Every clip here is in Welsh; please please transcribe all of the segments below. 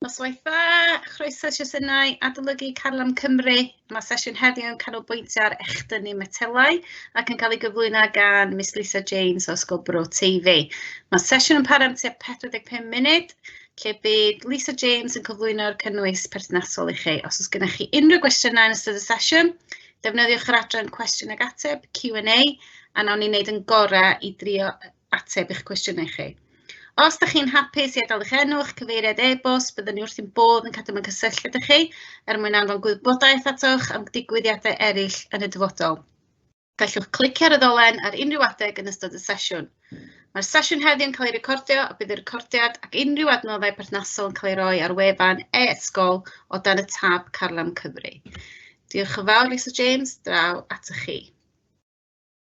Noswaith dda, chroeso sesiynau adolygu Carlam Cymru. Mae sesiwn heddiw yn canolbwyntio ar echdynnu metelau ac yn cael ei gyflwyno gan Miss Lisa James o Ysgol Bro TV. Mae sesiwn yn para am tua 45 munud, lle bydd Lisa James yn cyflwyno'r cynnwys perthnasol i chi. Os oes gennych chi unrhyw gwestiynau yn ystod y sesiwn, defnyddiwch yr adran cwestiwn ag ateb, Q&A, a nawn ni wneud yn gorau i drio ateb eich cwestiynau chi. Os da chi'n hapus i adael eich enw, eich cyfeiriad e-bost, byddwn ni wrth ein bodd yn cadw mewn cysylltu ydych chi er mwyn anfon gwybodaeth atoch am digwyddiadau eraill yn y dyfodol. Gallwch clicio ar y ddolen ar unrhyw adeg yn ystod y sesiwn. Mae'r sesiwn heddiw yn cael ei recordio a bydd y recordiad ac unrhyw adnoddau perthnasol yn cael ei roi ar wefan e-ysgol o dan y tab Carlam Cymru. Diolch yn fawr, Lisa James, draw atoch chi.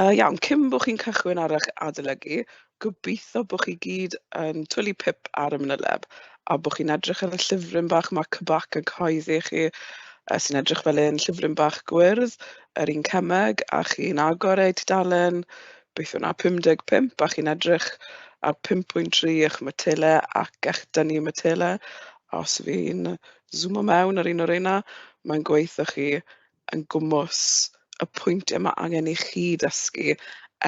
Yy iawn, cyn bo' chi'n cychwyn ar eich adolygu, gobeithio bo' chi gyd yn twli pip ar y manyleb a bo' chi'n edrych ar y llyfryn bach 'ma, Cybac yn Cyhoeddi i chi, yy sy'n edrych fel un llyfryn bach gwyrdd, yr un cemeg, a chi'n agor e i tudalen beth yw 'na, 55, a chi'n edrych ar 5.3 eich matele ac eich dynnu matele. A os fi'n swmo mewn ar un o reina, mae'n gweud 'tha chi yn gwmws y pwyntiau mae angen i chi ddysgu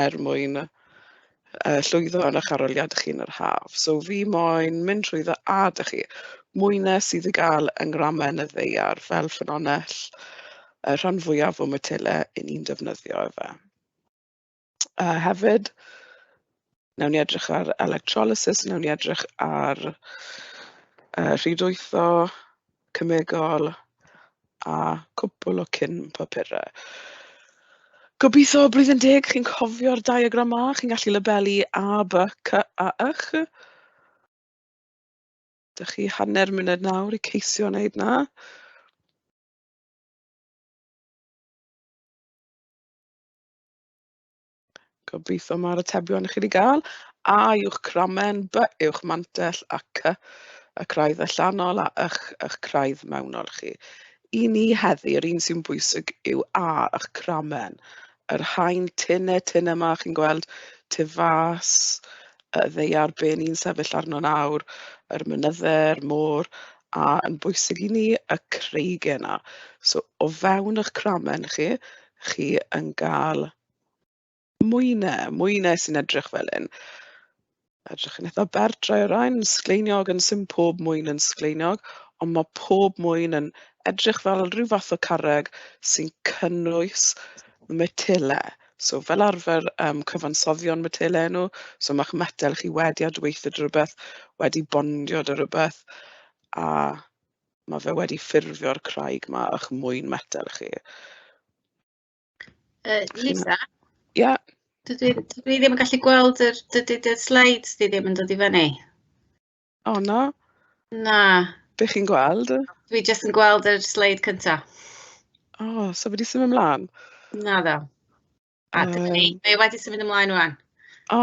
er mwyn yy llwyddo yn eich arholiad chi yn yr haf. So fi moyn mynd trwyddo a da chi. Mwyne sydd i gael yng ngramau yn y ddeiar fel ffynonell y rhan fwyaf o matele 'yn ni'n defnyddio efe. A hefyd wnawn ni edrych ar electrolysis, wnawn ni edrych ar yy rhwydweitho cemegol a cwpwl o cyn papurau. Gobeithio blwyddyn deg chi'n cofio'r diagram 'ma, chi'n gallu labelu A, B, C a Ych. Dach chi hanner munud nawr i ceisio wneud 'na. Gobeithio mae'r atebion i chi 'di gael. A yw'ch cramen, B yw'ch mantell, a C y craidd allanol, a Y'ch y'ch craidd mewnol chi. I ni heddi, yr un sy'n bwysig yw A yw'ch cramen. Yr haen tynne tynne yma, chi'n gweld, tu fas, y ddeiar be ni'n sefyll arno nawr, yr mynydde, yr môr, a yn bwysig i ni, y creigie 'na. So o fewn y'ch cramen chi, chi yn gael mwynau, mwynau sy'n edrych fel hyn. Edrych yn eitha berdrau o ran sgleiniog, yn sy'n pob mwyn yn sgleiniog, ond mae pob mwyn yn edrych fel rhyw fath o carreg sy'n cynnwys metele. So fel arfer um, cyfansoddion metele nhw, so mae'ch metel chi wedi adweithio dy rhywbeth, wedi bondio dy rhywbeth, a Mae fe wedi ffurfio'r craig 'ma o'ch mwyn metel chi. Yy Lisa? Ia? Dydw i dydw i ddim yn gallu gweld yr dydy dy sleids di ddim yn dod i fyny. O na, Na, be' chi'n gweld? dwi jyst yn gweld yr sleid cynta. O, so wedi symud ymlaen? Naddo. A dyna ni, Yym. mae o wedi symud ymlaen ŵan. O,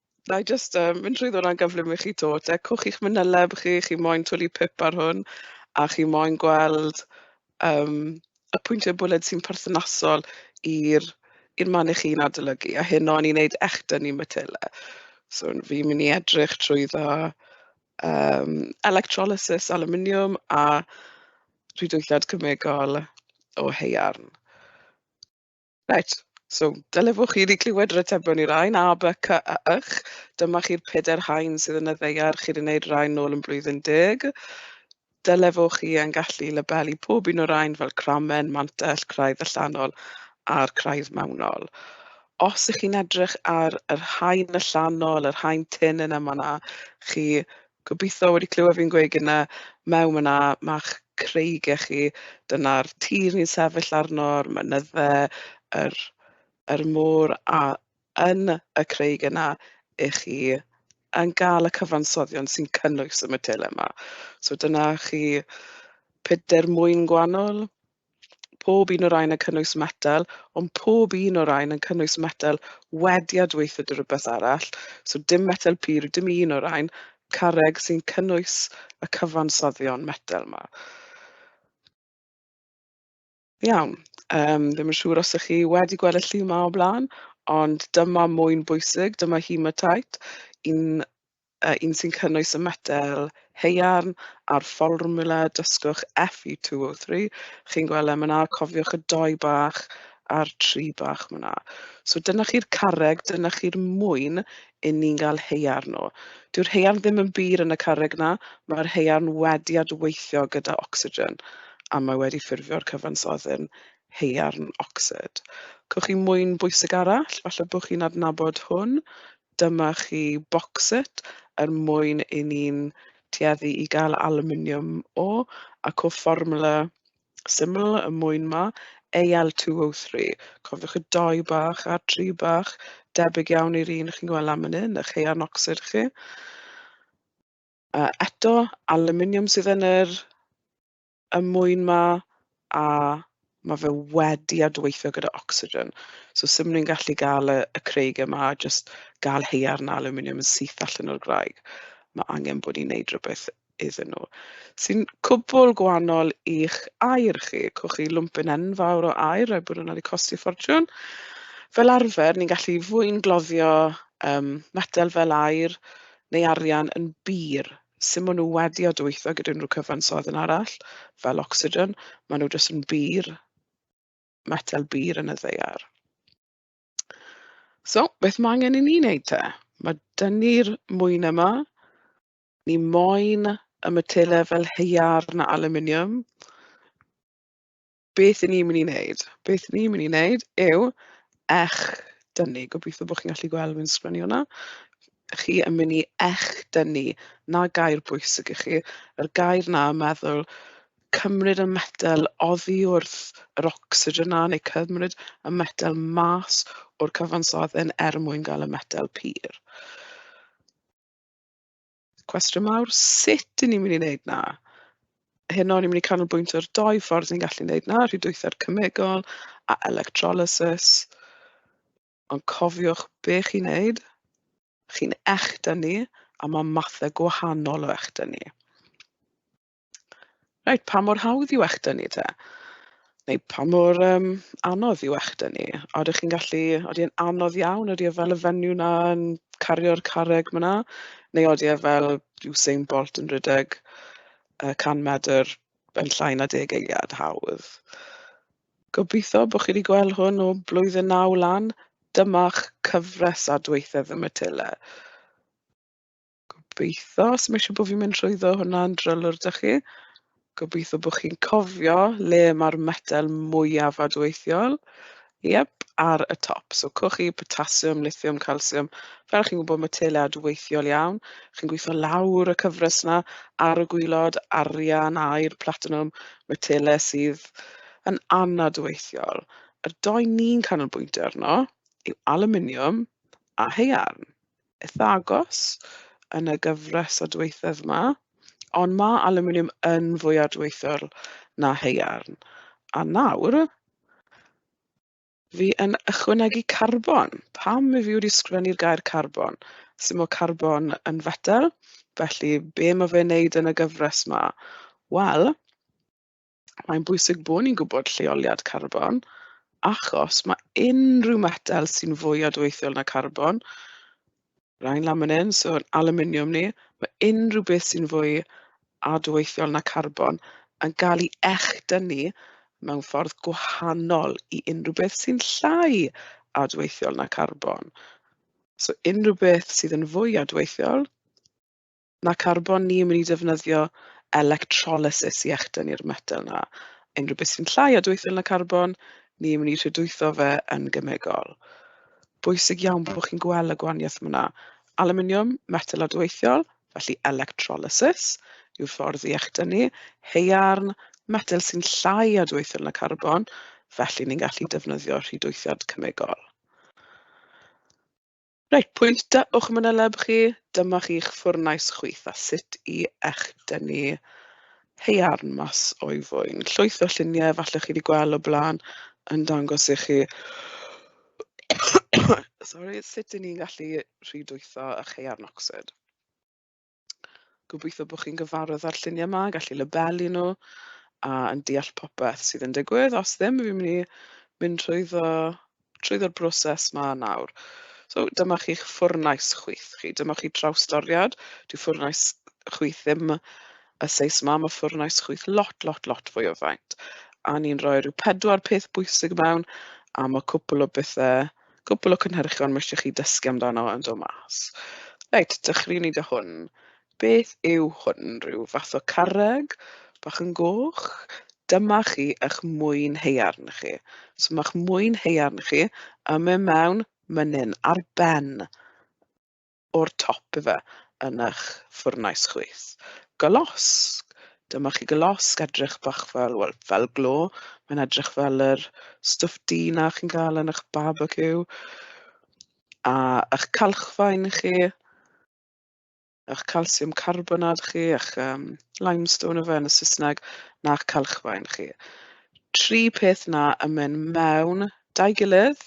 Wna i jyst, yym, mynd trwyddo hwnna'n gyflym i chi 'to. Decwch i'ch manyleb chi, chi chi moyn twli pip ar hwn a chi moyn gweld yym y pwyntiau bwled sy'n perthnasol i'r i'r man 'y chi'n adolygu, a heno ni'n wneud echdynnu matela. So n- fi'n mynd i edrych trwyddo yym electrolysis alwminiwm a rhwydweithiad cemegol o haearn. Reit, so dylefwch chi 'di clywed yr atebion i rain A, B, C a Ych. Dyma chi'r pedair haen sydd yn y ddeiar chi 'di wneud rain nôl yn blwyddyn deg. Dylefwch chi yn gallu labelu pob un o'r rain fel cramen, mantell, craidd allanol a'r craidd mewnol. Os ych chi'n edrych ar yr haen allanol, yr haen tynn yna ma' 'na chi Gobeithio wedi clywed fi'n gweud gynna "mewn fan'na ma'ch creigiau chi, dyna'r tir ni'n sefyll arno, a'r mynydde, yr yr môr, a yn y craig yna 'y chi yn gael y cyfansoddion sy'n cynnwys y matelau 'ma". So dyna chi pedair mwyn gwahanol. Pob un o'r rhain yn cynnwys metel, ond pob un o'r rhain yn cynnwys metel wedi â dweithio dy rywbeth arall, so dim metel pur, dim un o'r rhain, carreg, sy'n cynnwys y cyfansoddion metel 'ma. Iawn, um, ddim yn siŵr os ych chi wedi gweld y llu 'ma o blaen, ond dyma mwyn bwysig, dyma hematite, un a un sy'n cynnwys y metel haearn a'r fformiwla dysgwch FE203. Chi'n gweld e, mae 'na, cofiwch y dou bach a'r tri bach mae 'na. So dyna chi'r carreg, dyna chi'r mwyn i ni'n gael haearn o. Dyw'r haearn ddim yn bur yn y carreg 'na, mae'r haearn wedi adweithio gyda ocsigen a mae wedi ffurfio'r cyfansoddyn haearn ocsid. Cewch chi mwyn bwysig arall, falle bod chi'n adnabod hwn, Dyma chi boxset er mwyn i ni'n tueddu i gael alwminiwm o, ac o fformwla syml y mwyn 'ma, Al2O3. Cofiwch y dou bach a'r tri bach, debyg iawn i'r un chi'n gweld lan fan hyn, 'ych haearn ocsid chi. Eto, alwminiwm sydd yn yr y mwyn 'ma a ma' fe wedi adweithio gyda ocsigen. So sut maen nhw'n gallu gael y y craig yma a jyst gael haearn alwminiwm yn syth allan o'r graig. Ma' angen bod ni'n wneud rywbeth iddyn nhw. Sy'n cwbl gwahanol i'ch aer chi. Cwch chi lwmpyn enfawr o aer, rhaid bod hwnna wedi costi ffortiwn. Fel arfer, ni'n gallu fwyngloddio yym metel fel aer neu arian yn bur. sut maen nhw wedi adweithio gyda unrhyw cyfansoddyn arall, fel ocsigen. Maen nhw jyst yn bur, metel bur yn y ddaear. So, beth mae angen i ni wneud te? Mae dynnu'r mwyn yma. Ni moyn y metelau fel haearn a alwminiwm. beth 'y ni'n mynd i wneud, beth 'y ni'n mynd i wneud yw echdynnu. Gobeithio bod chi'n gallu gweld fi'n sgwennu hwnna. Chi yn mynd i echdynnu. 'Na gair bwysig i chi. Yr gair 'na yn meddwl cymryd y metel oddi wrth yr ocsigen 'na neu cymryd y metel mas o'r cyfansoddyn er mwyn gael y metel pur. Cwestiwn mawr, sut 'y ni'n mynd i wneud 'na? Heno ni'n mynd i canolbwyntio ar dou ffordd ni'n gallu wneud 'na, rhwydweithiau cemegol a electrolysis. Ond cofiwch be chi'n wneud, chi'n echda ni a mae mathau gwahanol o echda ni. Reit, pa mor hawdd yw eich dynnu te? Neu pa mor um, anodd yw eich dynnu? A ydych chi'n gallu, oeddi yn anodd iawn, oeddi e fel y fenyw na yn cario'r carreg myna? Neu oeddi e fel Usain Bolt yn rhedeg uh, 100 medr yn llai na deg eiliad hawdd? Gobeithio bod chi wedi gweld hwn o blwyddyn naw lan. Dyma'ch cyfres a dweithedd y Matilla. Gobeitho. So ma' siŵr bo' fi'n mynd trwyddo hwnna yn drylwr 'da chi. Gobeitho bo' chi'n cofio le ma'r metel mwyaf adweithiol. Iep, ar y top. So cochi, potasiwm, lithiwm, calsiwm. Fel chi'n gwybod, mae tele adweithiol iawn. Chi'n gweithio lawr y cyfres yna ar y gwylod, arian, air, platinwm, mae tele sydd yn anadweithiol. Yr doi ni'n canolbwyntio arno yw aluminiwm a haearn. eitha agos yn y gyfres o dweithedd yma, ond mae alwminiwm yn fwy adweithol na haearn. A nawr, fi yn ychwanegu carbon. Pam i fi wedi sgrifennu'r gair carbon? Sut mae carbon yn fetel, felly be mae fe'n neud yn y gyfres yma? Wel, mae'n bwysig bod ni'n gwybod lleoliad carbon, achos mae unrhyw metel sy'n fwy adweithiol na carbon, rhain lan fan hyn, so aluminium ni, mae unrhyw beth sy'n fwy adweithiol na carbon yn cael ei echdynnu mewn ffordd gwahanol i unrhyw beth sy'n llai adweithiol na carbon. So unrhyw beth sydd yn fwy adweithiol, Mae carbon ni yn mynd i defnyddio electrolysis i echdynnu'r metel 'na. Unrhyw beth sy'n llai o dwythr na carbon, ni yn mynd i rhydwytho fe yn gemegol. Bwysig iawn bod chi'n gweld y gwahaniaeth yna. Aluminiwm, metel adweithiol, felly electrolysis yw'r ffordd i echdynnu. Haearn, metel sy'n llai o dwythr na carbon, felly ni'n gallu defnyddio rhydwythiad cemegol. Reit, pwyntio uwch manyleb chi, dyma chi'ch ffwrnais chwith a sut i echdynnu haearn mas o'i fwyn. Llwyth o lluniau falle chi wedi gweld o blaen yn dangos i chi sori, sut 'y ni'n gallu rhwydweithio â chaearn ocsid. gobeithio bod chi'n gyfarwydd â'r lluniau yma, gallu labelu nhw a yn deall popeth sydd yn digwydd. Os ddim, fi'n mynd i mynd trwyddo, trwyddo'r broses ma nawr. So dyma chi'ch ffwrnais chwith chi, dyma chi trawstoriad. Dyw ffwrnais chwith ddim y seis yma, mae ffwrnais chwith lot, lot, lot fwy o faint. A ni'n rhoi rhyw pedwar peth bwysig mewn, a mae cwpl o bethau cwpl o cynhyrchion ma' isio chi dysgu amdano yn dod mas. Reit, dechreuwn ni da hwn. Beth yw hwn? Rhyw fath o carreg bach yn goch? Dyma chi eich mwyn haearn chi. So mae'ch mwyn haearn chi yn mynd mewn mynnyn ar ben o'r top ife yn eich ffwrnais chwith. Golosg! Dyma chi golosg edrych bach fel, wel, fel glo. Mae'n edrych fel yr stwff du 'na chi'n cael yn eich barbeciw. A eich calchfaen chi, eich calsiwm carbonad chi, eich um, limestone efe yn y Saesneg, na'ch calchfaen chi. Tri peth 'na yn mynd mewn 'da'i gilydd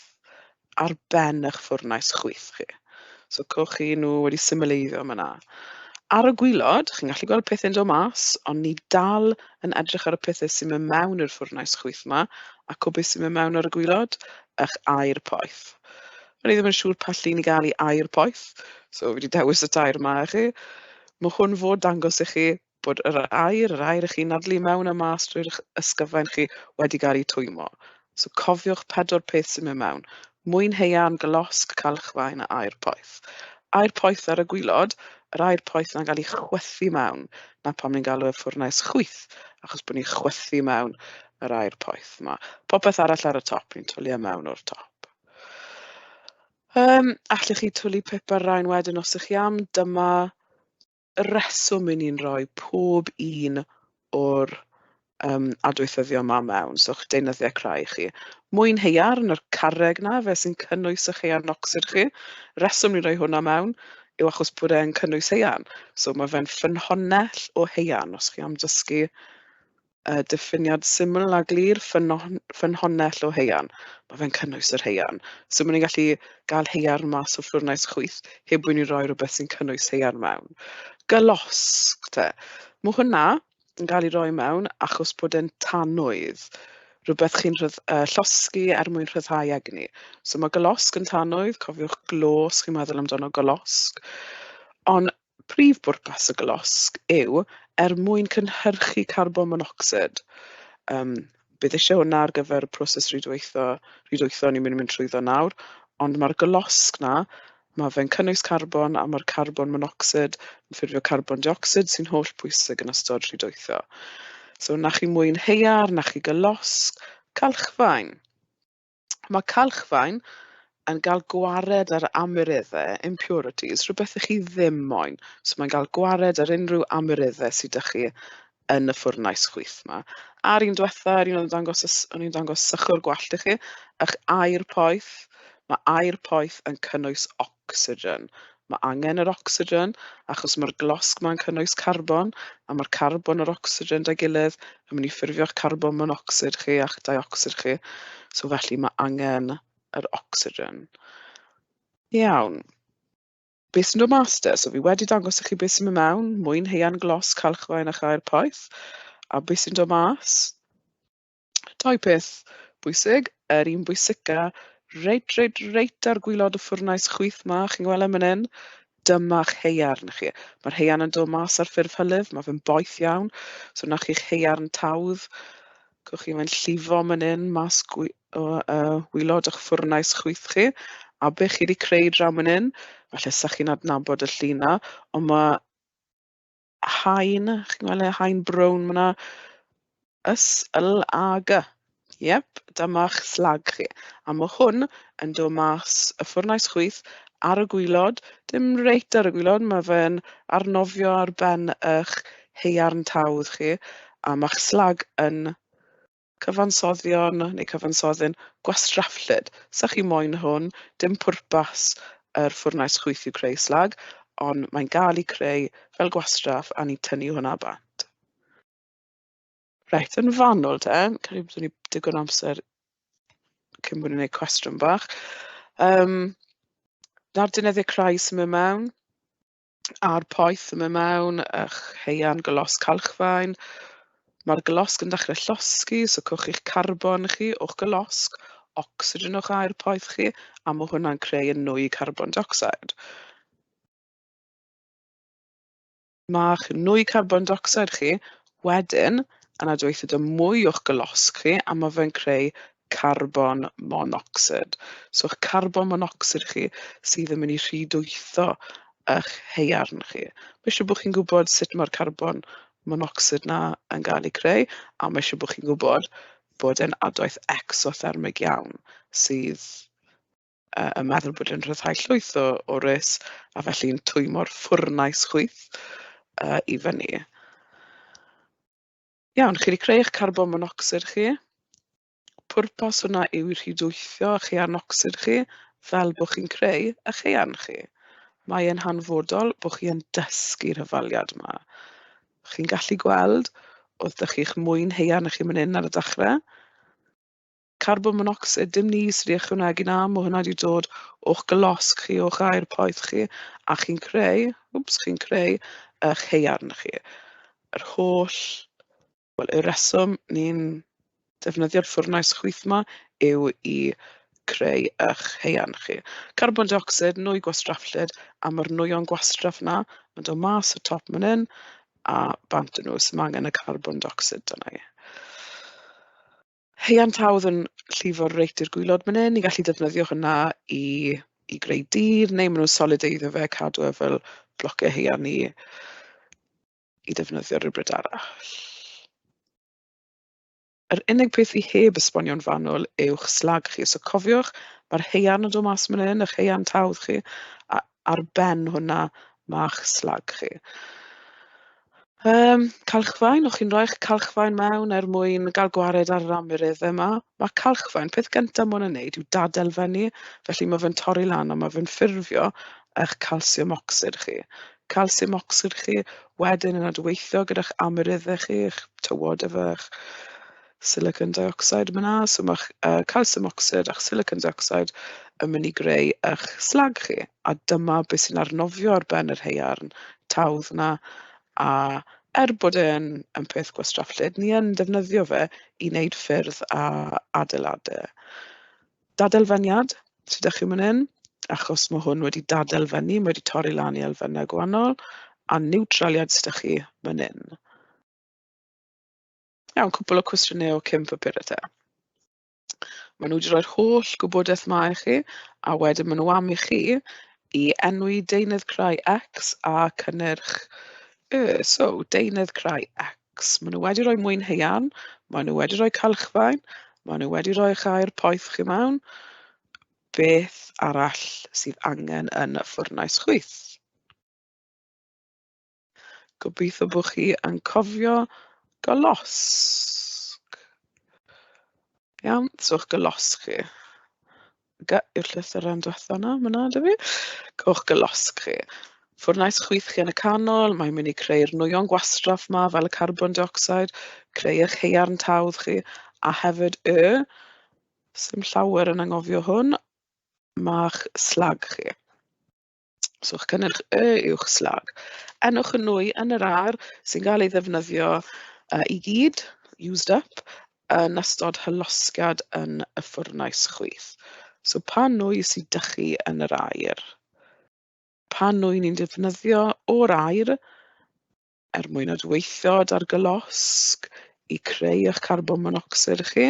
ar ben eich ffwrnais chwyth chi. So cewch chi nhw wedi symleiddio yma 'na. Ar y gwylod, chi'n gallu gweld pethau'n dod mas, ond ni dal yn edrych ar y pethau sy'n mynd mewn i'r ffwrnais chwyth yma, a o beth sy'n mynd mewn ar y gwylod, eich air poeth. O'n i ddim yn siŵr pa llun i gael i air poeth, so fi wedi dewis y tair yma i chi. Mae hwn fod dangos i chi Bod yr aer, yr aer y'ch chi'n nadlu mewn a mas drwy'ch ysgyfain chi, wedi cael ei twymo. So cofiwch pedwar peth sy'n mynd mewn. Mwyn haearn, golosg, calchfaen a aer poeth. Aer poeth ar y gwylod, yr aer poeth na'n cael ei chwythu mewn. Na pam ni'n galw e ffwrnais chwyth, achos bod ni'n chwythu mewn yr aer poeth yma. Popeth arall ar y top, ni'n twlu e mewn o'r top. Um, allech chi twlu pip ar rain wedyn os ych chi am, dyma y reswm i ni'n rhoi pob un o'r um, adweithyddio yma mewn, so eich deunyddiau crai chi. Mwyn heiarn yr carreg na, fe sy'n cynnwys eich heiarn ocsid chi. Reswm ni'n rhoi hwnna mewn yw achos bod e'n cynnwys heiarn. So mae fe'n ffynhonnell o heiarn, os chi am dysgu y diffiniad syml a glir, ffynnon- ffynhonnell o haearn. Mae fe'n cynnwys yr haearn. So maen ni'n gallu gael haearn mas o ffwrnais chwyth heb bod ni'n rhoi rhywbeth sy'n cynnwys haearn mewn. Gylosg te. Mae hwnna yn cael ei roi mewn achos bod e'n tanwydd. Rhywbeth chi'n rhydd- yy llosgi er mwyn rhyddhau egni. So mae gylosg yn tanwydd, cofiwch glos, chi'n meddwl amdano gylosg. Ond Prif bwrpas y golosg yw er mwyn cynhyrchu carbon monocsid. Yym, bydd eisiau hwnna ar gyfer y proses rhwydweithio, rhwydweithio ni'n mynd i mynd trwyddo nawr, ond mae'r golosg 'na, mae fe'n cynnwys carbon a mae'r carbon monocsid yn ffurfio carbon diocsid sy'n holl bwysig yn ystod rhwydweithio. So, na chi mwyn heiar, na chi golosg, calchfaen. Mae calchfaen yn cael gwared ar amyreddau, impurities, rhywbeth i chi ddim moyn. So mae'n cael gwared ar unrhyw amyreddau sydd â chi yn y ffwrnais chwith yma. A'r un diwetha, yr un o'n dangos, o'n i'n dangos sychwr gwallt i chi, ych air poeth, mae air poeth yn cynnwys ocsigen. Mae angen yr ocsigen achos mae'r glosg mae'n cynnwys carbon a mae'r carbon a'r ocsigen da gilydd yn mynd i ffurfio'ch carbon monocsid chi a'ch diocsid chi. So felly mae angen yr ocsigen. Iawn. Be sy'n dod mas de? So fi wedi dangos i chi beth sy'n mynd mewn, mwyn heian glos, calchfaen a chair poeth. A beth sy'n dod mas? Dau peth bwysig, yr un bwysica, reit, reit, reit ar gwylod y ffwrnais chwith 'ma, chi'n gweld e man 'yn? Dyma'ch haearn chi. Mae'r haearn yn dod mas ar ffurf hylif, mae fe'n boeth iawn, so 'na chi'ch haearn tawdd. Cwch chi mae'n llifo man 'yn mas gwy- o yy wylod o'ch ffwrnais chwith chi, a be' chi 'di creu draw man 'yn, falle 'sa chi'n adnabod y llun 'na, ond ma' haen, chi'n gweld y haen brown fan'na? S-L-A-G. Iep, dyma'ch slag chi. A mae hwn yn dod mas y ffwrnais chwith ar y gwylod, dim reit ar y gwylod, mae fe'n arnofio ar ben eich haearn tawdd chi, a mae'ch slag yn Cyfansoddion neu cyfansoddyn gwastraffllyd. Sa chi moyn hwn, dim pwrpas yr ffwrnais chwyth yw creu slag, ond mae'n gael ei creu fel gwastraff a ni'n tynnu hwnna bant. Reit, yn fanwl te, cael ei bod ni digon amser cyn bod ni'n gwneud cwestiwn bach. Um, Na'r dyneddiau crai sy'n mynd mewn. a'r poeth yn mynd mewn a'ch haearn glos calchfaen. Mae'r glosg yn dechrau llosgi, so cwch chi'ch carbon chi o'ch glosg, ocsigen o'ch aer poeth chi, a mae hwnna'n creu yn nwy carbon dioxide. Mae'ch nwy carbon dioxide chi wedyn yn adweithio dy mwy o'ch glosg chi, a mae fe'n creu carbon monocsid. So eich carbon monocsid chi sydd yn mynd i rhydwytho eich haearn chi. Mae eisiau bod chi'n gwybod sut mae'r carbon monocsid na yn cael ei creu, a mae eisiau bod chi'n gwybod bod e'n adwaith exothermig iawn sydd yy yn meddwl bod e'n rhyddhau llwyth o o res a felly'n twymo'r ffwrnais chwyth yy i fyny. Iawn, chi wedi creu eich carbon monocsid chi. Pwrpas hwnna yw i rhydwythio eich anocsid chi fel bod chi'n creu eich ean chi. Mae e'n hanfodol bod chi yn dysgu'r hyfaliad yma. Chi'n gallu gweld, oedd da chi'ch mwyn heian eich chi'n mynd hyn ar y dechrau, carbon monocsid, dim ni sydd wedi ychwanegu 'na, mae hwnna wedi dod o'ch golosg chi, o'ch aer poeth chi, a chi'n creu, wps, chi'n creu eich haearn chi. Yr holl, wel, y reswm ni'n defnyddio'r ffwrnais chwyth yma yw i creu eich haearn chi. Carbon dioxid, nwy gwastraffllyd, a mae'r nwyon gwastraff yna yn dod mas y top man hyn, a bant yn nhw sy'n angen y carbon dioxid yna i. Heian Tawdd yn llifo reit i'r gwaelod man hyn. Ni'n gallu defnyddio hwnna i i greu dur, neu maen nhw'n solideiddio fe, cadw e fel blociau haearn i i defnyddio rywbryd arall. Yr unig peth fi heb esbonio'n fanwl yw'ch slag chi. So cofiwch, mae'r haearn yn dod mas man hyn, eich haearn tawdd chi, a ar ben hwnna ma'ch slag chi. Um, calchfaen, o'ch chi'n rhoi'ch calchfaen mewn er mwyn gael gwared ar yr amrydd yma. Mae calchfaen, peth gyntaf mwyn yn neud yw dadel fyny, felly mae fe'n torri lan a mae fe'n ffurfio eich calsiwm ocsid chi. Calsiwm ocsid chi wedyn yn adweithio gyda'ch amryddau chi, eich tywod efo'ch silicon dioxide fan'na, so mae'ch yy calsiwm ocsid a'ch silicon dioxide yn mynd i greu eich slag chi, a dyma be sy'n arnofio ar ben yr haearn tawdd 'na, a er bod e'n yn peth gwastraff lled, ni yn defnyddio fe i wneud ffyrdd a adeiladau. Dadelfeniad, os ydych chi'n mynd hyn, achos mae hwn wedi dadelfennu, mae wedi torri lan i elfennau gwahanol, a niwtraliad os ydych chi mynd hyn. Iawn, cwpl o cwestiynau o cyn papurau te. Maen nhw wedi rhoi'r holl gwybodaeth 'ma i chi, a wedyn maen nhw am i chi i enwi deunydd crai X a cynnyrch Y. So, deunydd crai X. Maen nhw wedi rhoi mwyn haearn, maen nhw wedi rhoi calchfaen, maen nhw wedi rhoi eich air poeth chi mewn. Beth arall sydd angen yn y ffwrnais chwyth? Gobeithio bod chi yn cofio golosg. Iawn, so eich golosg chi. Ga- I'r llythyren diwetha' yna, fan'na 'da fi. Cewch golosg chi. Ffwrnais chwith chi yn y canol, mae'n mynd i creu'r nwyon gwastraff 'ma fel y carbon dioxide, creu eich haearn tawdd chi, a hefyd y, sdim llawer yn anghofio hwn, ma'ch slag chi. So chi'n cynnyrch Y uwch slag. Enwch y nwy yn yr ardd sy'n cael ei ddefnyddio yy i gyd, used up, yn ystod hylosgiad yn y ffwrnais chwyth. So pa nwy sy 'da chi yn yr aer? Pa nwy ni'n defnyddio o'r aer? er mwyn adweithio â'r gylosg i creu eich carbon monocsid chi.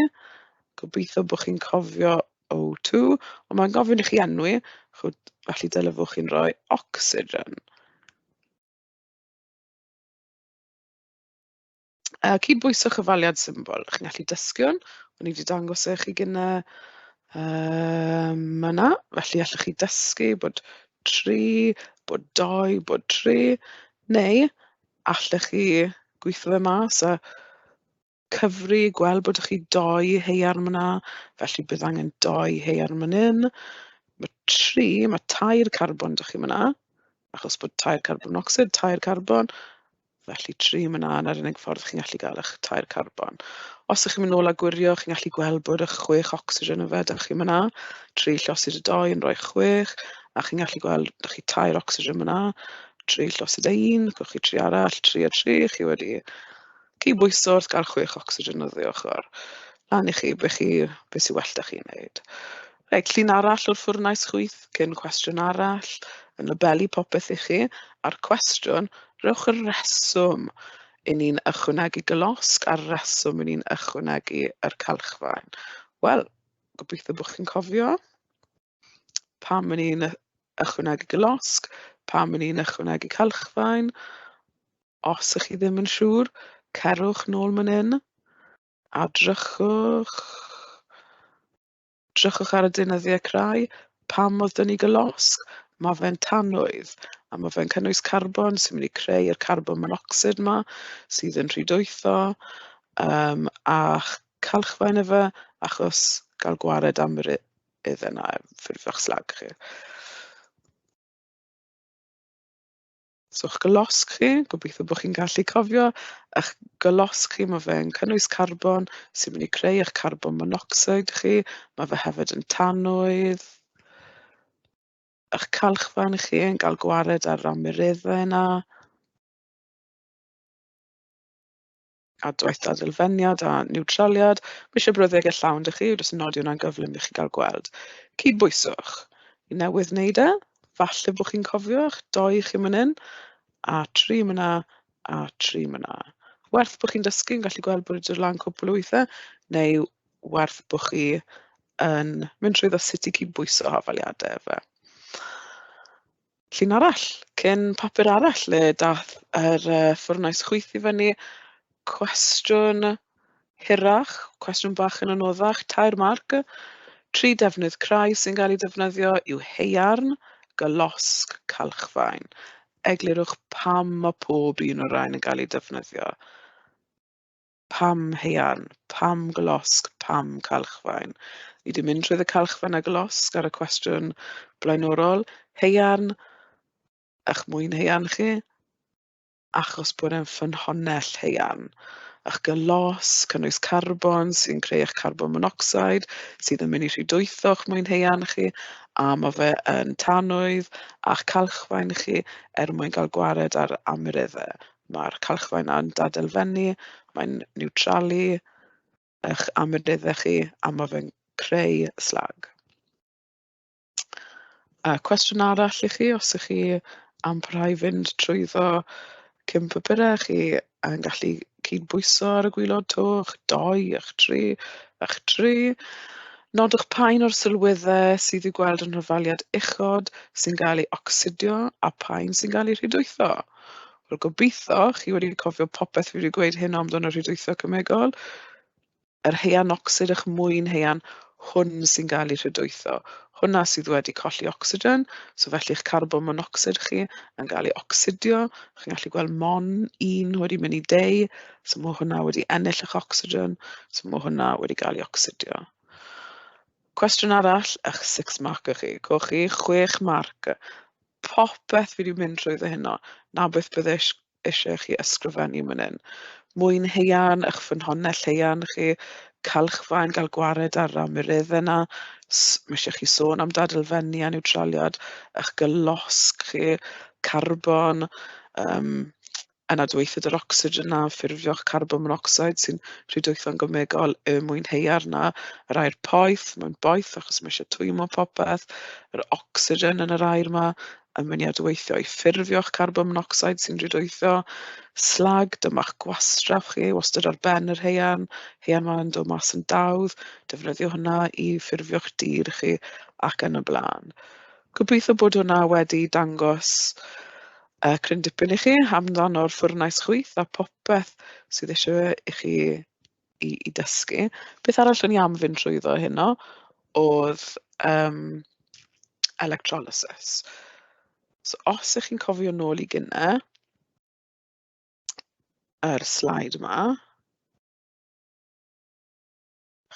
Gobeithio bod chi'n cofio O2, ond mae'n gofyn i chi enwi, chwyd, felly dylefwch chi'n rhoi ocsigen. Uh, cydbwyswch cyfaliad symbol. Chi'n gallu dysgiwn. O'n i wedi dangos e chi gyna uh, yna. Felly allwch chi dysgu bod tri, bod dou, bod tri, neu allech chi gweithio fe mas a cyfri, gweld bod chi dou haearn fan'na, felly bydd angen dou haearn fan hyn. Mae tri, mae tair carbon 'da chi fan'na, achos bod tair carbon monocsid, tair carbon. Felly, tri yn fan'na, 'na'r unig ffordd chi'n gallu gael eich tair carbon. Os ydych chi'n mynd nôl a gwirio, chi'n gallu gweld bod eich chwech ocsigen yfed 'da chi fan'na, tri llosyd y dou yn rhoi chwech, a chi'n gallu gweld, 'da chi tair ocsigen fan'na, tri llosyd a un, gewch chi tri arall, tri a tri, chi wedi cyd-bwyso wrth gael chwech ocsigen oddi ochr lan i chi, be chi... be sy well 'da chi wneud. Reit, llun arall o'r ffwrnais chwyth, cyn cwestiwn arall, yn labelu popeth i chi, a'r cwestiwn, rhowch y reswm i ni'n ychwanegu golosg a'r reswm i ni'n ychwanegu yr calchfaen. Wel, gobeithio bod chi'n cofio pam i ni'n ychwanegu golosg, pam i ni'n ychwanegu calchfaen. Os ych chi ddim yn siŵr, cerwch nôl man hyn a drychwch Drychwch ar y deunyddiau crai. Pam oedd 'da ni golosg? Mae fe'n tanwydd a mae fe'n cynnwys carbon sy'n mynd i creu'r carbon monocsid 'ma sydd yn rhwydweithio yym a ch- calchfaen efe achos gael gwared am yr u- iddyn nhw, ffurfio'ch slag chi. So eich golosg chi, gobeithio bod chi'n gallu cofio, eich golosg chi, mae fe'n cynnwys carbon sy'n mynd i creu eich carbon monocsid chi, mae fe hefyd yn tanwydd, eich calchfan chi yn cael gwared ar yr amyreddau yna. Adwaith a Dylfeniad a Niwtraliad, ma' ishe brawddege llawn 'da chi, jyst nodi hwnna'n gyflym i chi gael gweld. Cydbwyswch, fi newydd wneud e, falle bod chi'n cofio eich dou chi man hyn, a tri man 'na, a tri man 'na. Werth bod chi'n dysgu, fi'n gallu gweld bod wedi dod lan cwpwl o weithe, neu werth bod chi yn mynd trwyddo sut i cydbwyso hafaliade efe. llun arall, cyn papur arall le daeth yr uh, ffwrnais chwyth i fyny. Cwestiwn hirach, cwestiwn bach yn anoddach, tair marc. Tri defnydd crai sy'n cael eu defnyddio yw heiarn, gylosg, calchfaen. Eglurwch pam mae pob un o'r rhain yn cael eu defnyddio. pam haearn, pam golosg, pam calchfaen? Ni 'di mynd trwyddo calchfaen a golosg ar y cwestiwn blaenorol. Haearn, ych mwyn haearn chi, achos bod e'n ffynhonnell haearn. Ych gyllos, cynnwys carbon sy'n creu eich carbon monocsid, sydd yn mynd i rhy dwytho eich mwyn haearn chi, a mae fe yn tanwydd a'ch calchfaen chi er mwyn cael gwared ar amyreddau. Mae'r calchfaen 'na yn gadael fyny, mae'n niwtralu eich amryddeddau chi a ma' fe'n creu slag. A cwestiwn arall i chi, os 'y chi am parhau fynd trwyddo cyn papurau, chi yn gallu cydbwyso ar y gwaelod to, eich dou, eich tri, eich tri. Nodwch pa un o'r sylweddau sydd i'w gweld yn hofaliad uchod sy'n gael ei ocsidio a pha un sy'n gael ei rhwydweitho. Wel, gobeithio chi wedi cofio popeth fi wedi gweud hyn amdano rhydwytho cemegol. Yr haearn ocsid a'ch mwyn haearn, hwn sy'n cael ei rhydwytho. Hwnna sydd wedi colli ocsigen, so felly eich carbon monocsid chi yn cael ei ocsidio. Chi'n gallu gweld mon un wedi mynd i deu, so mae hwnna wedi ennill eich ocsigen, so mae hwnna wedi cael ei ocsidio. Cwestiwn arall, eich six marker chi. Coch chi chwech marc. popeth fi 'di mynd trwyddo heno, 'na beth bydde ish- isie chi ysgrifennu man 'yn. Mwyn haearn, 'ych ffynhonnell haearn chi, cylchfaen, gael gwared ar yr amyreddau 'na, s- ma' isie chi sôn am dadl-fenni a niwtraliad, 'ych gylosg chi, carbon, yym yn adweithyd yr ocsigen a ffurfio'ch carbon monocsid sy'n rhy dwyfan gymegol y mwynheua'r na yr aer poeth mae'n boeth achos mae eisiau twymo popeth yr ocsigen yn yr aer yma yn mynd i adweithio i ffurfio'ch carbon monocsid sy'n rhy dwyfo slag dyma'ch gwastraff chi wastad ar ben yr haearn haearn mae'n dod mas yn dawdd defnyddio hwnna i ffurfio'ch dir chi ac yn y blaen gobeithio bod hwnna wedi dangos Yy, cryn dipyn i chi amdano'r ffwrnais chwith a popeth sydd eisiau fe i chi i i dysgu. Beth arall o'n i am fynd trwyddo heno oedd yym electrolysis. So os y'ch chi'n cofio nôl i gynne, yr sleid yma,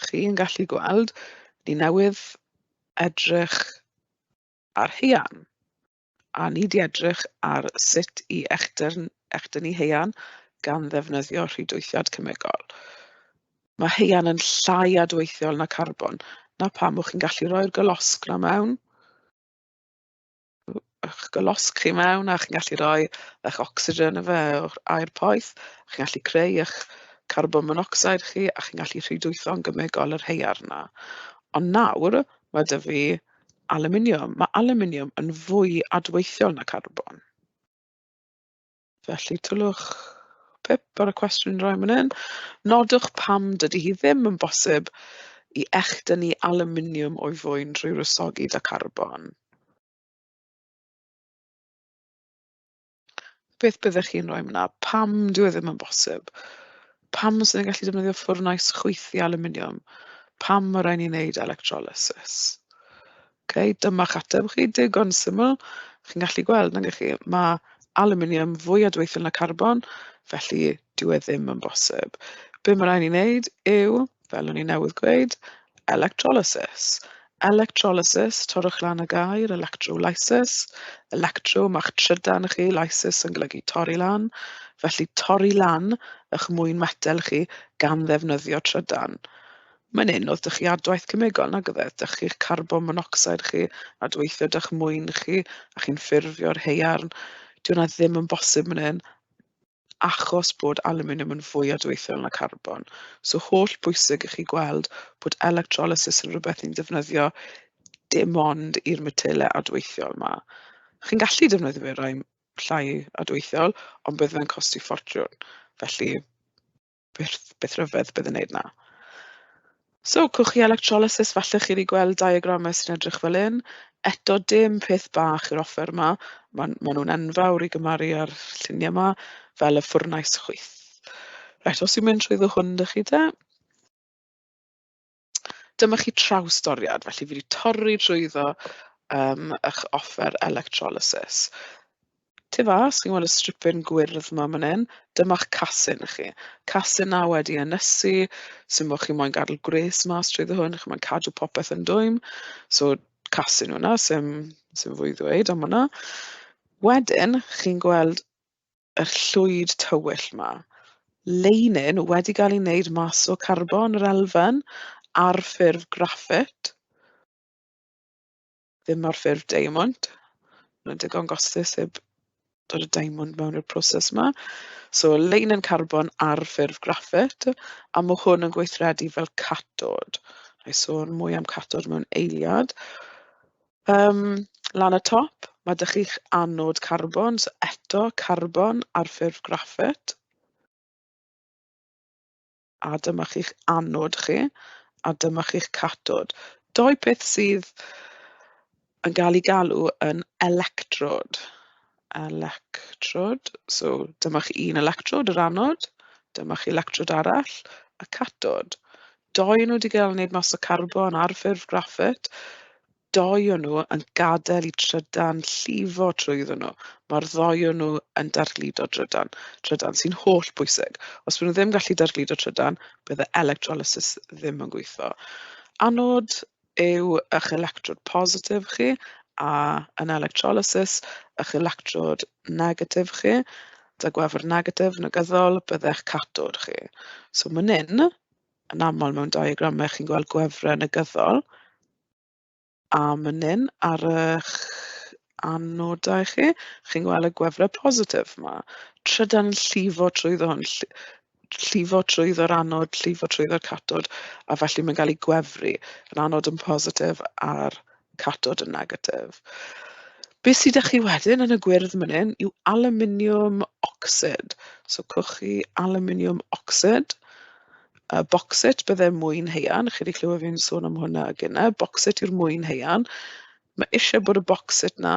chi'n gallu gweld ni newydd edrych ar haearn. A ni 'di edrych ar sut i echdyn- echdynnu haearn gan ddefnyddio rhwydweithiad cemegol. Mae haearn yn llai adweithiol na carbon. 'Na pam o'ch chi'n gallu rhoi'r golosg 'na mewn, eich golosg chi mewn, a chi'n gallu rhoi eich ocsigen ynddo fe, yr aer poeth, a chi'n gallu creu eich carbon monocsid chi, a chi'n gallu rhwydweithio'n gemegol yr haearn 'na. Ond nawr, ma' 'da fi... alwminiwm. Mae alwminiwm yn fwy adweithiol na carbon. Felly tylwch pip ar y cwestiwn yn rhoi fan hyn. Nodwch pam dydy hi ddim yn bosib i echdynnu alwminiwm o'i fwyn drwy rysogi da carbon. beth byddech chi'n rhoi yna? Pam dyw e ddim yn bosib? Pam sy'n ni'n gallu defnyddio ffwrnais chwythu aluminiwm? Pam mae rhaid ni wneud electrolysis? Okay, dyma'ch ateb chi, digon syml. Chi'n gallu gweld, nag chi, mae aluminium fwy adweithiol na carbon, felly Dyw e ddim yn bosib. Be mae rhaid ni wneud yw, fel o'n i newydd gweud, electrolysis. Electrolysis, torrwch lan y gair, electrolysis. Electro, mae'ch trydan chi, lysis yn golygu torri lan. Felly torri lan eich mwyn metel chi gan ddefnyddio trydan. Mae'n un oedd dych chi adwaith cemegol nag oedd e, dych chi'ch carbon monocsid chi a dweithio dych mwyn chi a chi'n ffurfio'r heiarn. Dyw hwnna ddim yn bosib fan hyn. achos bod alwminiwm yn fwy adweithiol na carbon. So holl bwysig i chi gweld bod electrolysis yn rhywbeth ni'n defnyddio dim ond i'r metelau adweithiol 'ma. Chi'n gallu defnyddio fe i rai llai adweithiol, ond bydd fe'n costi ffortiwn. Felly... beth beth rhyfedd bydd yn wneud 'na. So, cwch chi electrolysis, falle chi wedi gweld diagramau sy'n edrych fel hyn. Eto dim peth bach yw'r offer yma. Maen maen nhw'n enfawr i gymharu â'r lluniau yma, fel y ffwrnais chwyth. Reit, os yw mynd trwyddo hwn 'da chi te. Dyma chi trawsdoriad, felly fi 'di torri drwyddo yym eich offer electrolysis. Tu fas, chi'n gweld y stripyn gwyrdd 'ma man hyn? Dyma'ch casyn chi. Casyn 'na wedi ynysu, sy'n bod chi moyn gadel gwres mas trwyddo hwn, chi moyn cadw popeth yn dwym. So casyn hwnna, sy'n sy'n fwy i ddweud am hwnna. Wedyn, chi'n gweld yr llwyd tywyll 'ma. Leinin wedi gael ei wneud mas o carbon yr elfen ar ffurf graffit, ddim ar ffurf diamond. Mae'n digon gostus heb dod y diamond mewn i'r proses 'ma. So leinin carbon ar ffurf graffit a mae hwn yn gweithredu fel catod. Wna i sôn mwy am catod mewn eiliad. Yym, lan y top, ma' 'da chi'ch anod carbon, so eto carbon ar ffurf graffit. A dyma chi'ch anod chi, a dyma chi'ch cathod. Dou peth sydd yn gael eu galw yn electrode. electrode, so dyma chi un electrode, yr anod, dyma chi electrode arall, y catod. Doi o nhw wedi cael eu wneud mas o carbon ar ffurf graffit, doi o nhw yn gadael i trydan llifo trwyddyn nhw. Mae'r ddoi o nhw yn darllido trydan, trydan sy'n holl bwysig. Os maen nhw ddim yn gallu darllido trydan, bydd y electrolysis ddim yn gweithio. Anod, yw eich electrod positif chi a yn electrolysis eich electrod negatif chi. 'da gwefr negatif negyddol byddech catod chi. So man hyn, yn aml mewn diagramau chi'n gweld gwefrau negyddol, a man hyn ar eich anodau chi, chi'n gweld y gwefrau positif 'ma. Trydan yn llifo trwyddo hwn. llifo trwyddo'r anod, llifo trwyddo'r catod, a felly mae'n cael ei gwefru. Yr anod yn positif a'r catod yn negatif. Be sydd â chi wedyn yn y gwyrdd man hyn yw aluminium ocsid. So cwch chi aluminium ocsid. Uh, boxit bydde mwyn heian, chi wedi clywed fi'n sôn am hwnna gyna. Boxit yw'r mwyn heian. Mae eisiau bod y boxit na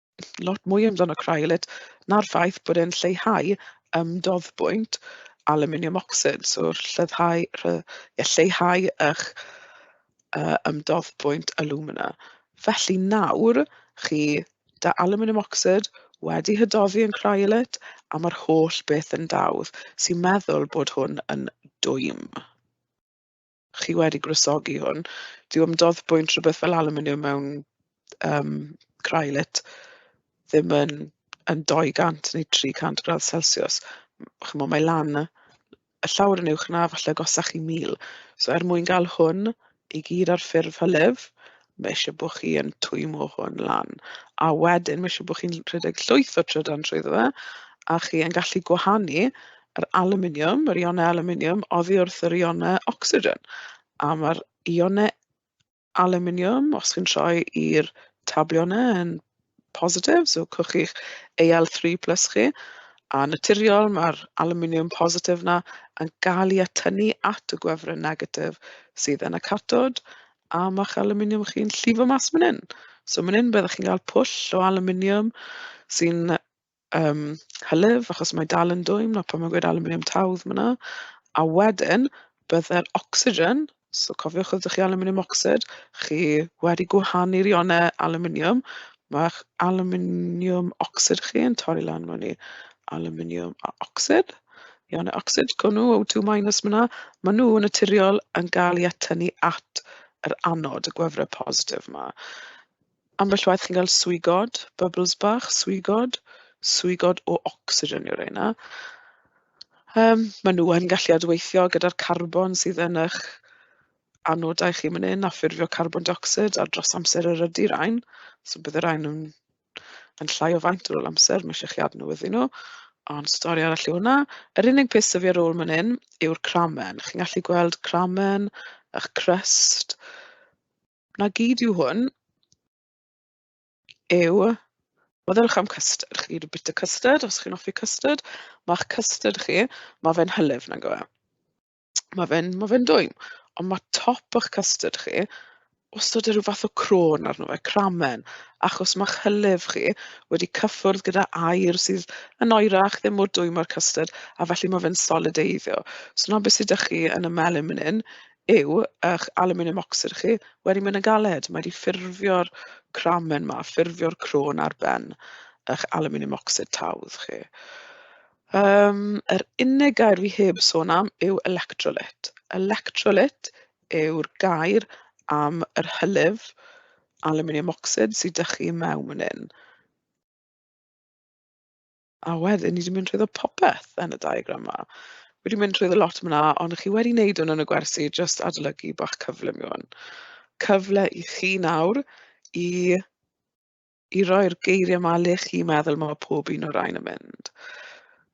lot mwy amdano Cryolit na'r ffaith bod e'n lleihau ymdoddbwynt alwminiwm ocsid. So llyddhau rhy- ie lleihau eich yy ymdoddbwynt alwmina. Felly nawr chi 'da alwminiwm ocsid wedi hydoddi yn Cryolit a mae'r holl beth yn dawdd. Sy'n meddwl bod hwn yn dwym. chi wedi gwresogi hwn, dyw ymdodd bwynt rhywbeth fel alwminiwm mewn yym crylit ddim yn yn dou gant neu tri cant gradd celsiws. Chimod, mae lan y y llawr yn uwch na falle agosach i mil. So er mwyn gael hwn i gyd ar ffurf hylif, Mae eisiau bod chi yn twymo hwn lan. A wedyn mae eisiau bod chi'n rhedeg llwyth o trydan trwyddo fe, a chi yn gallu gwahanu yr aluminium, yr ionau aluminium oddi wrth yr ionau ocsigen. A mae'r ionau aluminium, os chi'n troi i'r tabliau yna yn positif, so cwch chi'ch AL three plus chi. A naturiol, ma'r alwminiwm positif 'na yn gael ei atynnu at y gwefryn negatif sydd yn y catod, a ma'ch alwminiwm chi'n llifo mas man hyn. So man hyn byddwch chi'n cael pwll o alwminiwm sy'n yym hylif, achos mae dal yn dwym, 'na pam mae'n gweud alwminiwm tawdd fan'na. A wedyn byddai'r ocsigen, so cofiwch os dach chi alwminiwm ocsid, chi wedi gwahanu'r ionau alwminiwm, ma'ch alwminiwm ocsid chi yn torri lan mewn i alwminiwm a ocsid. Ionau ocsid, co nhw, O2 minus ma' 'na. Maen nhw yn naturiol yn gael eu atynnu at yr anod, y gwefrau positif 'ma. Ambell waith chi'n cael swigod, bubbles bach, swigod, swigod o ocsigen yw reina. Yym, maen nhw yn gallu adweithio gyda'r carbon sydd yn eich anodau chi man hyn a ffurfio carbon dioxid a dros amser erydu rain. So bydd y rain yn yn llai o faint ar ôl amser, mae eisiau chi adnewyddu nhw. Ond stori arall yw hwnna. Yr unig peth sydd fi ar ôl man hyn yw'r cramen. Chi'n gallu gweld cramen, ych crust. 'na gyd yw hwn yw meddyliwch am custard. Chi wedi bwyta custard, os chi'n hoffi custard, mae'ch custard chi, mae fe'n hylif, nag yw e? Mae fe'n ma fe'n dwym, ond mae top o'ch custard chi wastad â rhyw fath o crôn arno fe, cramen, achos mae'ch hylif chi wedi cyffwrdd gyda air sydd yn oerach, ddim mor dwym â'r custard, a felly mae fe'n solideiddio. So 'na beth sydd 'da chi yn y melyn fan hyn yw eich alwminiwm ocsid chi wedi mynd yn galed. Mae wedi ffurfio'r cramen yma, ffurfio'r crôn ar ben eich alwminiwm ocsid tawdd chi. Um, yr unig gair fi heb sôn am yw electrolyt. Electrolyt yw'r gair am yr hylif alwminiwm ocsid sydd â chi mewn yn un. A wedyn ni di mynd trwyddo popeth yn y diagram 'ma. Wedi mynd trwyddo lot mna, ond chi wedi wneud hwn yn y gwersi jyst adolygu bach cyflym yw hwn. Cyfle i chi nawr i i roi'r geiriau 'ma le chi'n meddwl ma' pob un o'r rhain yn mynd.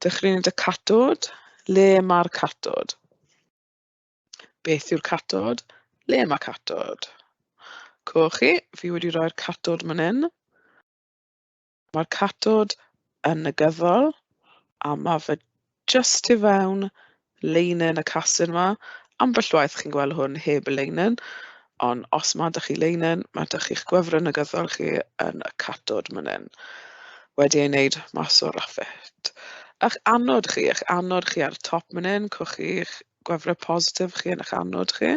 Dechreuwn ni'n dy catod, le mae'r catod? Beth yw'r catod? Le mae catod? Coch chi, fi wedi rhoi'r catod man hyn. Mae'r catod yn negyddol a mae fe jyst tu fewn leinen y casyn 'ma. Ambell waith chi'n gweld hwn heb y leinen, ond os ma' 'da chi leinen, ma' 'da chi'ch gwefr negyddol chi yn y catod man 'yn. Wedi ei wneud mas o raffet. A'ch anod chi, a'ch anod chi ar y top man 'yn, cwch chi'ch gwefre positif chi yn 'ych anod chi.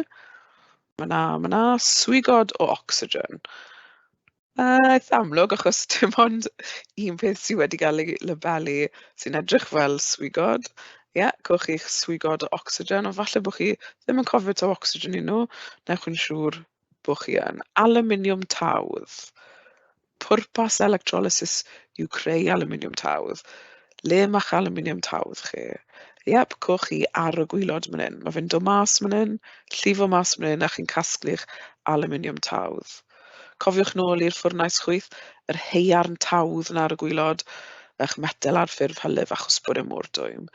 Ma' 'na ma' 'na swigod o ocsigen. Yy, eitha amlwg achos dim ond un peth sy wedi gael ei labelu sy'n edrych fel swigod. Ie, gewch chi'ch swigod o ocsigen, ond falle bo' chi ddim yn cofio taw ocsigen y'n nhw, wnewch yn siŵr bo' chi yn. Alwminiwm tawdd. Pwrpas electrolysis yw creu alwminiwm tawdd. Le ma'ch alwminiwm tawdd chi? Iep, cewch chi ar y gwaelod man hyn. Ma' fe'n dod mas man hyn, llifo mas man hyn, a chi'n casglu'ch alwminiwm tawdd. Cofiwch nôl i'r ffwrnais chwyth, yr haearn tawdd 'na ar y gwaelod, ych metel ar ffurf hylif a chwsbwr y môr dwym.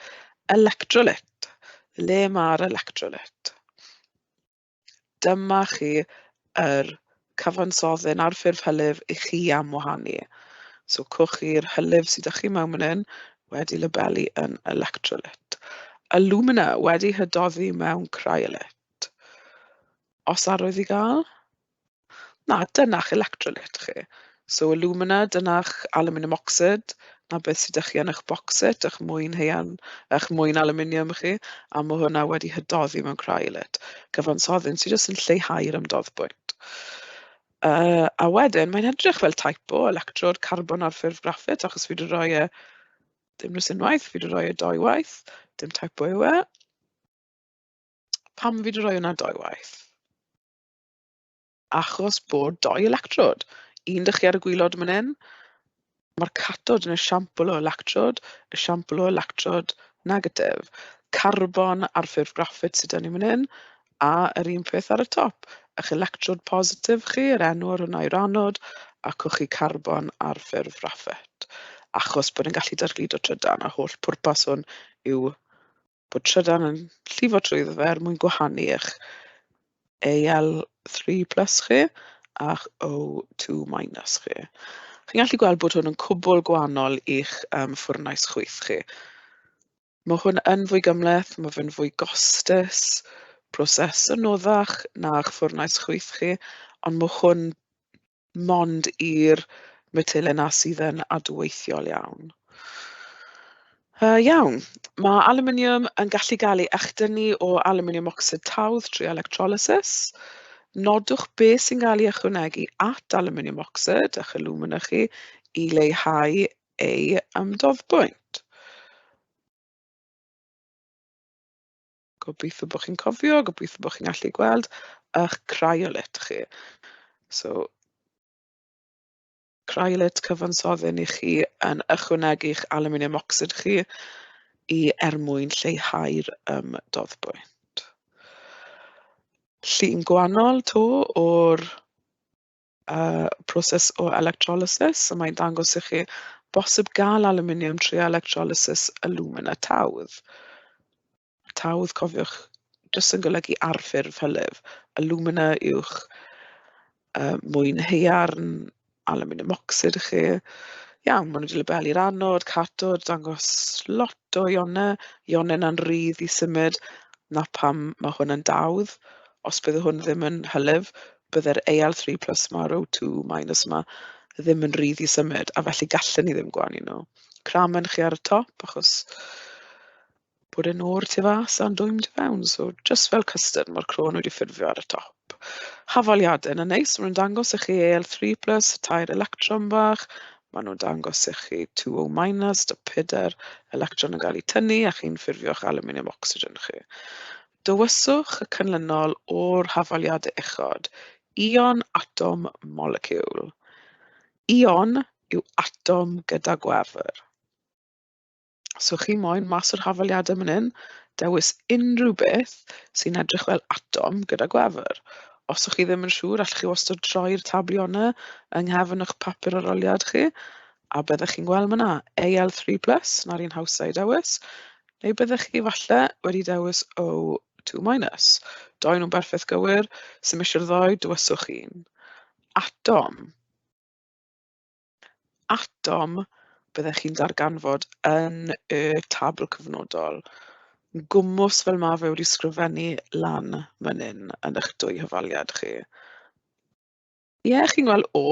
Electrolyt! Le mae'r electrolyt? Dyma chi yr cyfansoddyn ar ffurf hylif i chi am wahanu. So cwch i'r hylif sydd â chi mewn fan hyn wedi labelu yn electrolyt. Alumina wedi hydoddi mewn cryolyt. Os arwydd i gael, Na, dyna'ch electrolyt chi. So alumina, dyna'ch aluminium oxide, na beth sydd 'da chi yn eich bocset, eich mwyn haearn, eich mwyn aluminium chi, a mae hwnna wedi hydoddi mewn cryolyt. Cyfansoddyn sydd jyst yn lleihau'r ymdoddbwynt. Uh, a wedyn, mae'n edrych fel typo, electrod carbon ar ffurf graffit, achos fi wedi rhoi e dim nes unwaith, fi wedi rhoi e doi waith, dim typo yw e. Pam fi wedi rhoi hwnna doi waith? Achos bod dou electrod, un dych chi ar y gwylod man hyn, mae'r catod yn esiampl o electrod, esiampl o electrod negatif. Carbon ar ffurf graffit sydd 'da ni man hyn, a yr un peth ar y top. Ych electrod positif chi, yr enw ar hwnna yw'r anod, a cwch chi carbon ar ffurf graffit. Achos bod e'n gallu dargludo trydan, a holl pwrpas hwn yw bod trydan yn llifo trwyddo fe er mwyn gwahanu eich AL three plus chi a'ch O two minus chi. Chi'n gallu gweld bod hwn yn cwbl gwahanol i'ch um, ffwrnais chwyth chi. Mae hwn yn fwy gymleth, mae fe'n fwy gostus, proses yn noddach na'ch ffwrnais chwyth chi, ond mae hwn mond i'r metylau 'na sydd yn adweithiol iawn. Uh, iawn, mae aluminium yn gallu gael ei echdynnu o aluminium ocsid tawdd trwy electrolysis. Nodwch beth sy'n cael ei ychwanegu at aluminium ocsid a'ch alumina chi i leihau ei ymdoddbwynt. Gobeithio bod chi'n cofio, gobeithio bod chi'n gallu gweld ych Cryolit chi. So Cryolit cyfansoddyn i chi yn ychwanegu'ch aluminium oxide chi i er mwyn lleihau'r um, doddbwynt. Llun gwahanol to o'r y proses o electrolysis. So mae'n dangos i chi bosib gael aluminium trwy electrolysis alumina tawdd. Tawdd, cofiwch, jyst yn golygu arffurf hylif. Alumina yw'ch uh, mwyn heiarn, aluminium ocsid i chi. Iawn, maen nhw wedi lebelu'r anod, catod, dangos lot o ionau, ionau na'n rydd i symud, na pam mae hwn yn dawdd. Os bydd hwn ddim yn hylif, bydde'r AL three plus ma'r O two minus yma ddim yn rhydd i symud, a felly gallen ni ddim gwanu nhw. Cramen chi ar y top, achos bod e'n o'r tu fas a'n dwym tu fewn, so jyst fel custard, mae'r croen wedi ffurfio ar y top. Hafaliadau yn y neis, maen nhw'n dangos i chi AL three plus, y tair electron bach, maen nhw'n dangos i chi two O minus, y pedair electron yn cael eu tynnu, a chi'n ffurfio'ch aluminium oxygen chi. Dewiswch y canlynol o'r hafaliadau uchod, ion, atom, moleciwl. Ion yw atom gyda gwefr. Os ywch chi moyn mas o'r hafaliadau man hyn, dewis unrhyw beth sy'n edrych fel atom gyda gwefr. Os ydych chi ddim yn siŵr, allwch chi wastad troi'r tablionnau yng nghefn eich papur aroliad chi, a byddwch chi'n gweld yna AL3+, na'r un hawsa i dewis, Neu byddech chi falle wedi dewis O two minus. Doedd nhw'm berffeth gywir, sim isie'r ddou, dywyswch un. Atom. Atom byddech chi'n darganfod yn y tabl cyfnodol. Yn gwmws fel mae fe wedi sgrifennu lan man hyn yn eich dwy hyfaliad chi. Ie, chi'n gweld "o"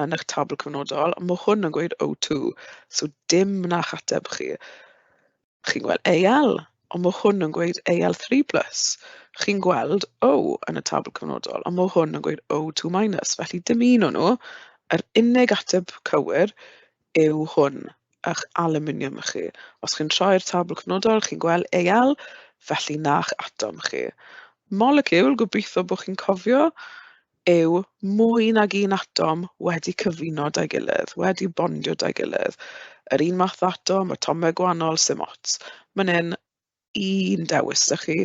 yn eich tabl cyfnodol, ma' hwn yn gweud "o two", so dim na'ch ateb chi. Chi'n gweld "AL", ond ma' hwn yn gweud "AL three plus". Chi'n gweld "o" yn y tabl cyfnodol, ond ma' hwn yn gweud "o two minus". Felly dim un o nhw, yr unig ateb cywir yw hwn ych alwminiwm chi. Os chi'n troi'r tabl cnwdol, chi'n gweld Al, felly na'ch atom chi. Moleciwl, gobeithio bod chi'n cofio, yw mwy nag un atom wedi cyfuno 'da'i gilydd, wedi bondio 'da'i gilydd. Yr un math o atom, atomau gwahanol, sim ots. Mae'n hyn, un dewis 'da chi,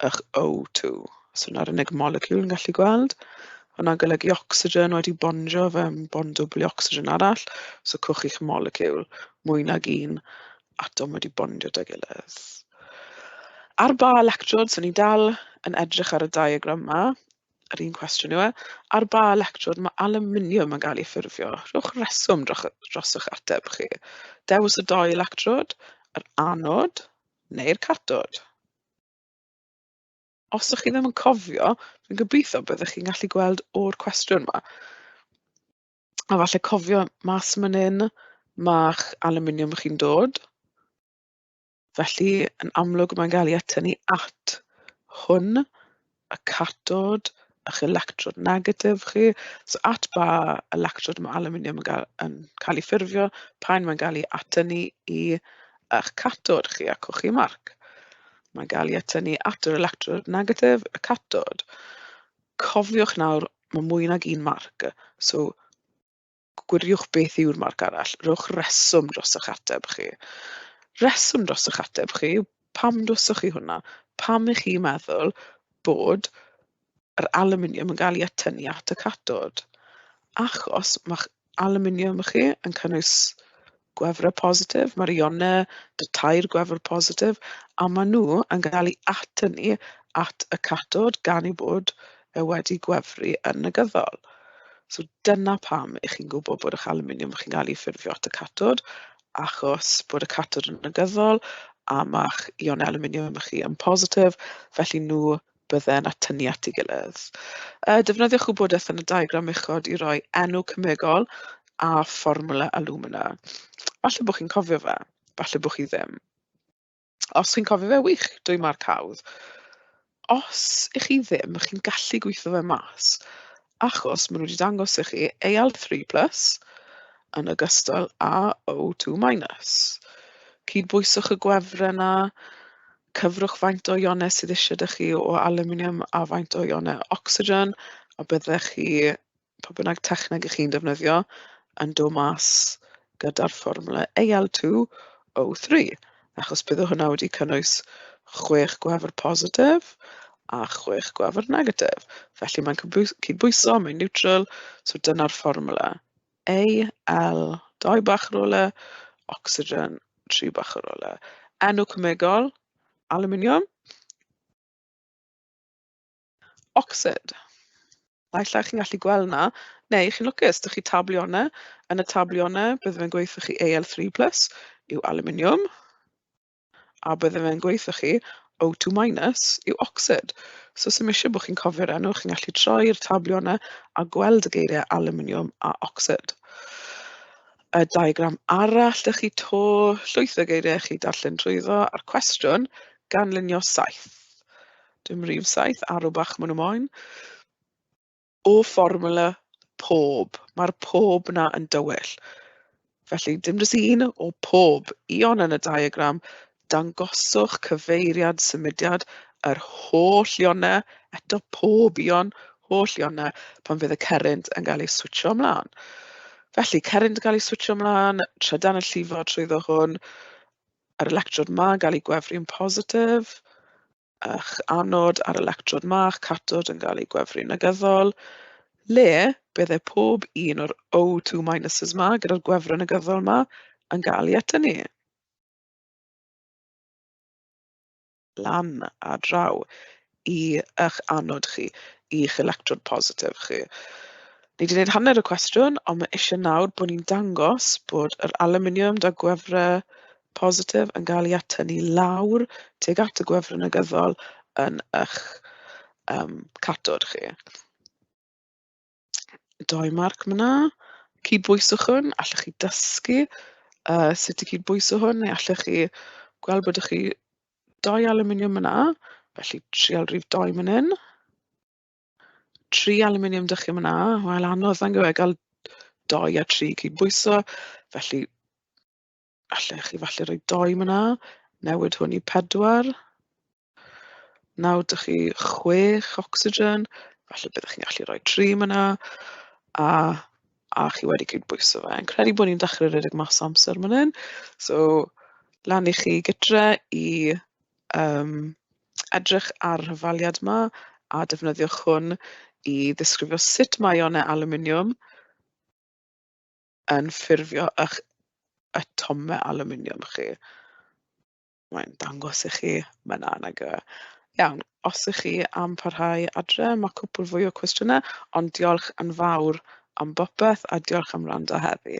ych O2. Os hwnna yr unig moleciwl yn gallu gweld, hwnna'n golygu ocsigen wedi bondio fewn bond dwbl i ocsigen arall, so cwch chi'ch moleciwl, mwy nag un atom wedi bondio 'da'i gilydd. Ar ba electrod, so ni dal yn edrych ar y diagram 'ma, yr un cwestiwn yw e, ar ba electrod mae alwminiwm yn cael ei ffurfio? Rhowch reswm droch- drosoch ateb chi. Dewis y dou electrod, yr anod neu'r catod. Os ydych chi ddim yn cofio, dwi'n gobeithio byddwch chi'n gallu gweld o'r cwestiwn yma. A falle cofio mas man hyn, mae'ch aluminiwm chi'n dod. Felly, yn amlwg, mae'n cael ei atynnu at hwn. a catod a'ch electrod negatif chi. So at ba electrod mae alwminiwm yn gael yn cael ei ffurfio pan mae'n gael ei atynnu i eich catod chi a cochi marc. Mae'n gael ei atynnu at yr electrod negatif, y catod. Cofiwch nawr, mae mwy nag un marc. So gwiriwch beth yw'r marc arall, rhowch reswm dros eich ateb chi. Reswm dros eich ateb chi, pam dwyswch chi hwnna? Pam ych chi'n meddwl bod yr aluminium yn cael ei atynnu at y catod? Achos mae aluminium chi yn cynnwys gwefrau positif, mae'r ionau, y tair gwefr positif, a maen nhw yn cael eu atynnu at y catod gan ei bod e wedi gwefru yn negyddol. So dyna pam ych chi'n gwybod bod eich aluminium chi'n cael ei ffurfio at y catod, achos bod y catod yn negyddol a mae'ch ion aluminium chi yn positif, felly nhw bydde'n atynnu at ei gilydd. Yy, defnyddiwch gwybodaeth yn y diagram uchod i roi enw cemegol a fformwla alumina. Falle bod chi'n cofio fe, falle bod chi ddim. Os chi'n cofio fe wych, dwy marc hawdd. Os ych chi ddim, chi'n gallu gweithio fe mas. achos maen nhw wedi dangos i chi AL three plus yn ogystal â O two minus. Cydbwyswch y gwefren yna, cyfrwch faint o ionau sydd eisiau dych chi o aluminium a faint o ionau ocsigen, a byddech chi, pa bynnag techneg ych chi'n defnyddio, yn dod mas gyda'r fformwla AL2O3, achos bydde hwnna wedi cynnwys chwech gwefr positif a chwech gwefr negatif. Felly mae'n cydbwys- cydbwyso, mae'n niwtral, so dyna'r fformwla. AL, dau bach ar ôl e, ocsigen, tri bach ar ôl e. Enw cemegol, aluminium. Oxford. Naill ai chi'n gallu gweld 'na, neu chi'n lwcus, dych chi tablionnau. Yn y tablionnau, bydde fe'n gweithio chi AL3 plus yw aluminium, a bydde fe'n gweithio chi O2 minus yw oxyd. So sy'n eisiau bod chi'n cofio'r enw, chi'n gallu troi'r tablionnau a gweld y geiriau aluminium a oxyd. Y diagram arall, dych chi to llwyth o geiriau chi darllen trwyddo, a'r cwestiwn, ganlunio saith. Dim rif saith, arw bach maen nhw moyn. O fformwla pob. Mae'r pob 'na yn dywyll. Felly, dim jyst un, o pob. Ion yn y diagram, dangoswch cyfeiriad symudiad yr holl ionau, eto pob ion, holl ionau, pan fydd y cerrynt yn cael ei switcho ymlaen. Felly, cerrynt yn cael ei switcho ymlaen, trydan yn llifo trwyddo hwn, yr electrod 'ma yn cael eu gwefru yn positif, a'ch anod a'r electrod 'ma, a'ch cathod yn cael eu gwefru yn negyddol, le bydde pob un o'r O2 minuses 'ma gyda'r gwefru negyddol 'ma yn gael ei atynnu. lan a draw i eich anod chi, i'ch electrod positif chi. Ni wedi gwneud hanner y cwestiwn, ond mae eisiau nawr bod ni'n dangos bod yr aluminium da gwefrau positif yn cael ei atynnu lawr tuag at y gwefrau negyddol yn eich um, catod chi. doi marc ma'na. Cydbwyswch hwn, allwch chi dysgu yy sut i cydbwyso hwn, neu allwch chi gweld bod 'da chi doi alwminiwm ma'na, felly trial rif doi man hyn. Tri alwminiwm 'da chi ma'na, wel anodd yndyw e gael doi a tri i cydbwyso, felly... Allech chi falle roi dou mân 'na. Newid hwn i pedwar. Nawr 'da chi chwech ocsigen. Falle byddech chi'n gallu rhoi tri mân 'na. A a chi wedi cydbwyso fe. Fi'n credu bod ni'n dechrau rhedeg mas o amser yn fan hyn. So lan i chi gytre i yym edrych ar y hafaliad 'ma a defnyddiwch hwn i ddisgrifio sut mae ionau alwminiwm... yn ffurfio eich atomau alwminiwm chi. Mae'n dangos i chi fan'na nag yw e. Iawn, os 'y chi am parhau adre, ma' cwpwl fwy o cwestiyne, ond diolch yn fawr am bopeth a diolch am wrando heddi.